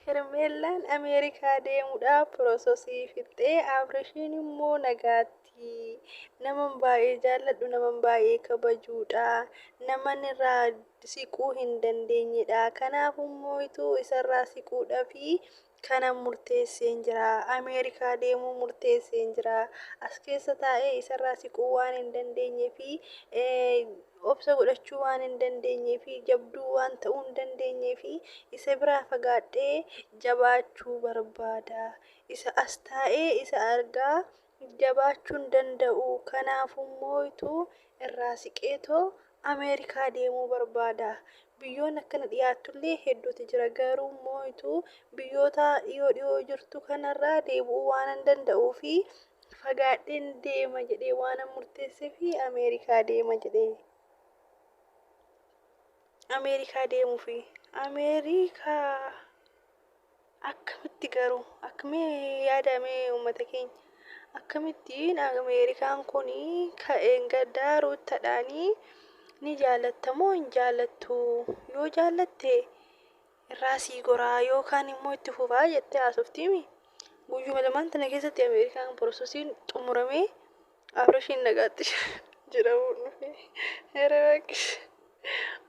Hermeellaan Ameerikaa deemudhaaf prososii fixxee Abrishiin immoo nagaatti naman baay'ee jaalladhu naman baay'ee kabajuudha naman irraa siquu hin dandeenyedha kanaaf immoo ituu isarraa siquudhafii kanan murteesseen jira Ameerikaa deemuu murteesseen jira as keessa taa'ee isarraa siquu waan hin dandeenye fi obsa godhachuu waan hin dandeenyee fi jabduu waan ta'uu hin dandeenyeef isa biraa fagaadhee jabaachuu barbaada. Isa as taa'ee isa argaa jabaachuu hin danda'u. Kanaafummootu irraa siqeetoo Ameerikaa deemuu barbaada. Biyyoonni akka na dhiyaattullee hedduutu jira. Garuummootu biyyoota dhiyoo dhiyoo jirtu kanarraa deebi'uu waanan danda'uuf Fagaadheen deema jedhee waanan murteesseef Ameerikaa deema jedhee. Ameerikaa deemuufi. Ameerikaa akkamitti garuu akkamii yaadamee uummata keenya akkamittiin Ameerikaan kun ka'een gaddaa ruuttadhaanii ni jaallattamoo hin jaallattu yoo jaallatte irraa sii goraa yoo kaan immoo itti fufaa jettee haasoftiimi. Guyyuma lamaan tana keessatti Ameerikaan porososiin xumuramee Abrashiin nagaatti jedhamuun dhufe. Ere bakkis.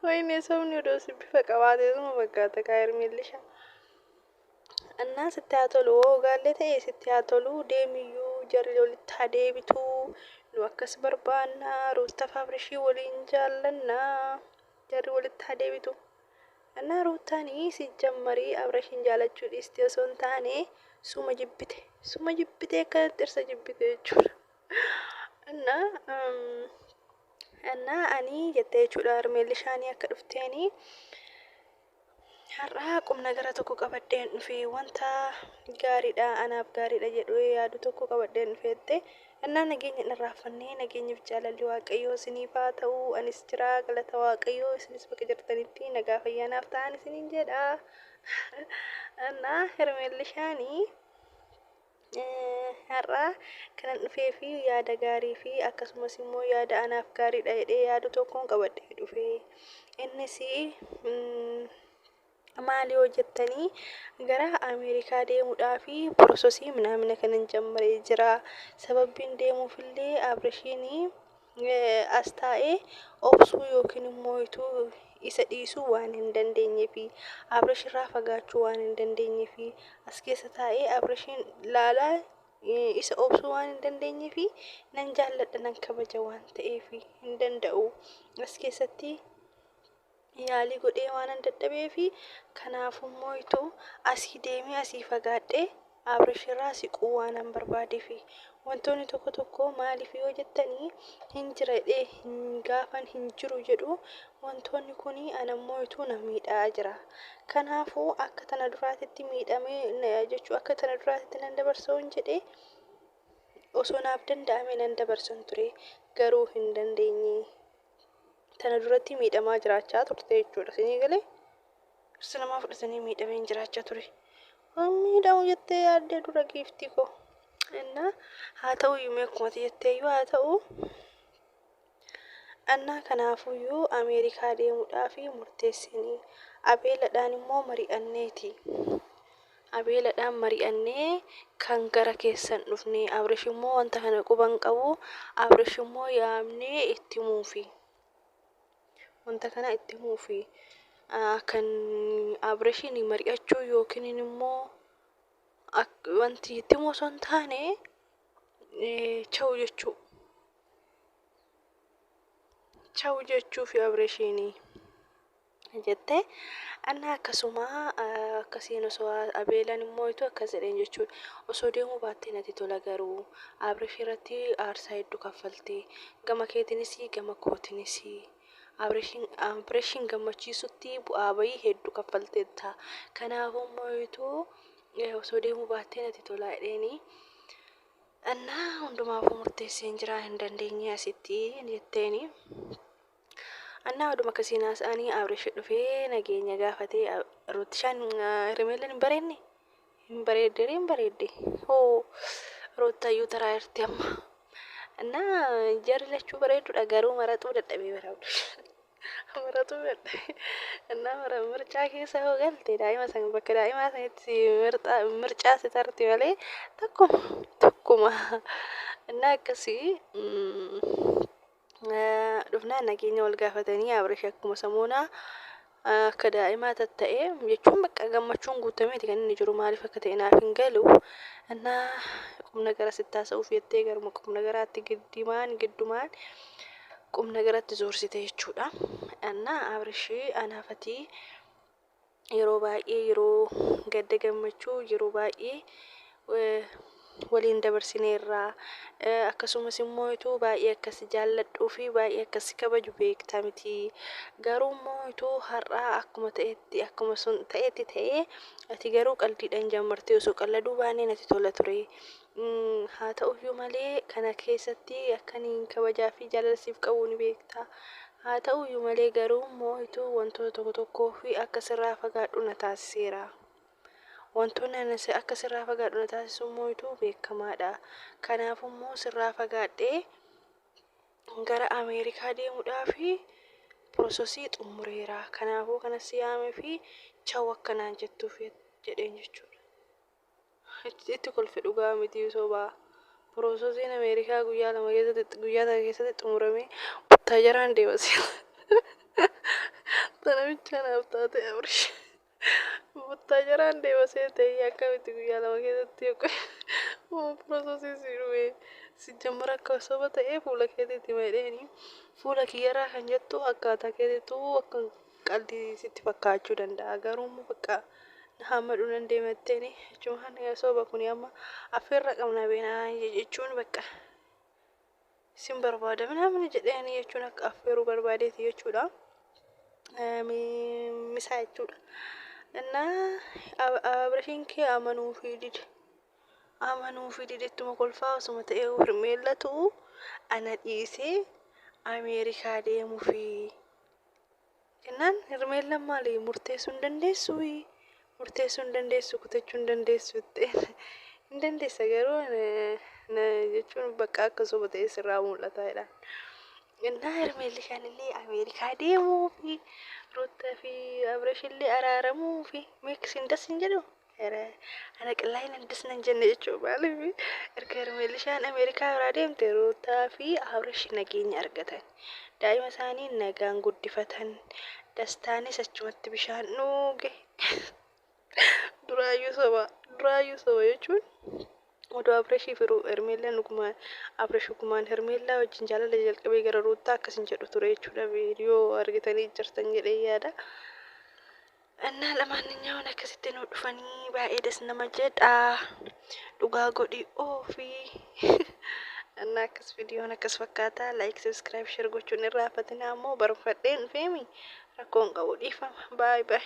Wayinee sobni odoo si bifa qabaatee suma fakkaata kaa Hermeellisha. Annaa sitti haa tolu hoo ogaallee ta'e sitti haa tolu deemiyyuu jarri walitti haa deebitu. Nu akkas barbaanna Ruuttaaf Abrashii waliin jaallannaa jarri walitti haa deebitu. Ana ruuttaan sijjammari abrashin jaalachuu dhiisti osoo hin taane suma jibbite suma jibbite akkanatti dhirsa jibbite jechuudha anna anna ani jettee jechuudha harmeellishaanii akka dhufteeni har'aa qubna gara tokko qabadheen dhufe wanta gaariidha anaaf gaariidha jedhu yaadu tokko qabadheen dhufeette Ennaa nageenya dhan raaffanne, nageenyi fi jaalalli Waaqayyoo isiniif haa ta'u, anis jira, galata Waaqayyoo, isinis bakka jirtanitti nagaa fi fayyaa naaf ta'aan isiniin jedha. Ennaa Hermeellishaani har'a kanan dhufee fi yaada gaarii fi akkasumas immoo yaada anaaf gaariidha jedhee yaadu tokkoon qabadhee dhufe. Innis mm, Maal yoo jettanii gara Ameerikaa deemuudhaaf porososii minaamina kanan jammaree jira. Sababbiin deemuuf illee Abrishiin as taa'ee obsuu yookiin immoo ituu isa dhiisuu waan hin dandeenyeefi. Abrish irraa fagaachuu waan hin dandeenyeefi. As keessa taa'ee Abrishiin laalaa isa obsuu waan hin dandeenyeefi nan jaalladha nan kabaja waan ta'eefi hin danda'u. As keessatti. yaalii godhee waanan dadhabeefi kanaafuu mooytu asii deemee asii fagaadhee Abrishirraa siquu waanan barbaadeefi. Wantoonni tokko tokko maaliif yoo jettanii hin jira jedhee hin gaafan hin jiru jedhu wantoonni kun ana mooytu na miidhaa jira. Kanaafuu akka tana duraatitti miidhamee jechuu akka tana duraatitti nan dabarsa hin jedhee osoo naaf danda'ame nan dabarsan ture garuu hin dandeenye. tana duratti miidhamaa jiraachaa turte jechuudha sinii galee dhirsa namaa fudhatanii miidhameen jiraachaa ture miidhamu jettee yaaddee dura giiftii koo innaa haa ta'u yuumee akkumati jettee yoo haa ta'u annaa kanaafuyyuu ameerikaa deemuudhaa fi murteessinii abeeladhaan immoo mari'anneeti Abeeladhaan mari'annee kan gara keessan dhufne. Abrish immoo wanta kana quba hin qabu. Abrish immoo yaamnee itti himuufi. Wanta kana itti himuufi. Ah, Kan Abrishiin mari'achuu yookiin immoo ak- wanti itti himu osoo hin taane eh, cha'u jechuu. Cha'u jechuu fi Abrishiinii. jette. Annaa akkasuma akkasiin osoo Abeelan hin moo'itu akkas jedheen jechuudha. Osoo deemuu baattee natti tola garuu Abrish irratti aarsaa hedduu kaffalte. Gama keetinis gama kootinis. Abrishin Abrishin gammachiisutti bu'aa bahii hedduu kaffalteetta. Kanaafuu moo'itu osoo deemuu baattee natti tola jedheeni. Annaa hundumaafuu murteesseen jira hin dandeenye asitti jetteeni. Annaa oduma akkasiin haasa'anii Abrish dhufee nageenya gaafatee Ruutishaan Hermeellan hin bareedne hin bareedde hin bareedde hoo Ruuttayyuu taraa irti amma annaa jarri lachuu bareedduudha garuu maraxuu dadhabee bara Abrish maraxuu dadhabee annaa mara mircaa keessa hoo galte daa'ima san bakka daa'imaa sanitti mircaa si tarti malee takkuma takkuma annaa akkasii dhufnaan nageenya wal gaafatanii Abrish akkuma samoonaa akka daa'imaa tatta'e jechuun bakka gammachuun guutameeti kan inni jiru maaliif akka ta'e naaf hin galu annaa qubna gara sitti haasa'uuf jettee garuma qubna garaatti giddimaan giddumaan qubna garatti zoorsite jechuudha annaa Abrishii anaafatii yeroo baay'ee yeroo gadda gammachuu yeroo baay'ee eh, waliin dabarsineerra Eh, akkasumas immoo ituu baay'ee akkas jaalladhuu fi baay'ee akkas kabaju beekta miti garuu immoo ituu har'aa akkuma ta'etti akkuma sun ta'etti ta'ee ati garuu qaldiidhaan jammartee osoo qalladuu baannee natti tola ture Haa ta'u iyyuu malee, kana keessatti akka ani kabajaa fi jaalala siif qabu ni beekta. Haa ta'u iyyuu malee garuu moo'itu wantoota tokko tokkoo fi akka sirraa fagaadhu na taasiseera. Wantoonni ani si- akka sirraa fagaadhu na taasisu moo'itu beekamaadha. Kanaaf immoo sirraa fagaadhee gara Ameerikaa deemuudhaa fi prosesii xumureera. Kanaafuu kana si yaamee fi chaw akka naan jettuuf jedheen jechuudha. Itti kolfe dhugaa mitii soba. Prosoziin Ameerikaa guyyaa lama keessatti guyyaa takka keessatti xumuramee buttaajaraan deema siila. Tana bichaa naaf taate Abrish. Buttaajaraan deema seete akkamitti guyyaa lama keessatti yogguu moo prosoziin si dhume. Si jammara akka soba ta'ee fuula keetiitti meedheeni. Fuula kiyyarraa kan jettu akkaataa keetiitu akka Qaldi sitti fakkaachu danda'a garuu immoo bakka na hammadhu nan deema jetteeni jechuun yoo sooba kuni amma affeerra qabna beenaa jechuun bakka sin barbaada minaamin jedheeni jechuun akka affeeruu barbaadeeti jechuudha. Misaa jechuudha. Innaa abirashiin kee amanuu fi dide. Amanuu fi dide ittuma kolfaa osuma ta'ee hirmeellatu ana dhiisee Ameerikaa deemuu fi Jennaan Hirmeellaan maali murteessuu hin dandeessuuyi murteessuu hin dandeessu kutachuu hin dandeessu ta'een hin dandeessa garuu jechuun bakka akka soba ta'ee sirraa mul'ata jedhaan. Innaa Hirmeelli kan inni Ameerikaa deemuu fi Ruuttaa fi Abresh illee araaramuu fi meeqis hin das hin jedhu Ere ana qillaayin hin disna hin jenne jechuun maaliifi erga hermeelishaan Ameerikaa biraa deemte Ruutaa fi Abrish nageenya argatan. Daa'ima isaanii nagaan guddifatan. Dastaanis achumatti bishaan dhuuge. Duraayyuu soba. Duraayyuu soba jechuun odoo Abrishii fi Ru- Hermeellaan dhugumaan Abrish dhugumaan Hermeellaa wajjin jaalala jalqabee gara Ruutaa akkas hin jedhu ture jechuudha viidiyoo argitanii jirtan jedhee yaada. Annaa lamaanninyaawwan akkasitti nu dhufanii baay'ee das nama jedha dhugaa godhi oofi annaa akkas viidiyoon akkas fakkaata laayik sabiskiraayib sheer gochuun irraa hafatinaa ammoo barfadheen feemi rakkoon qabu dhiifama baay baay.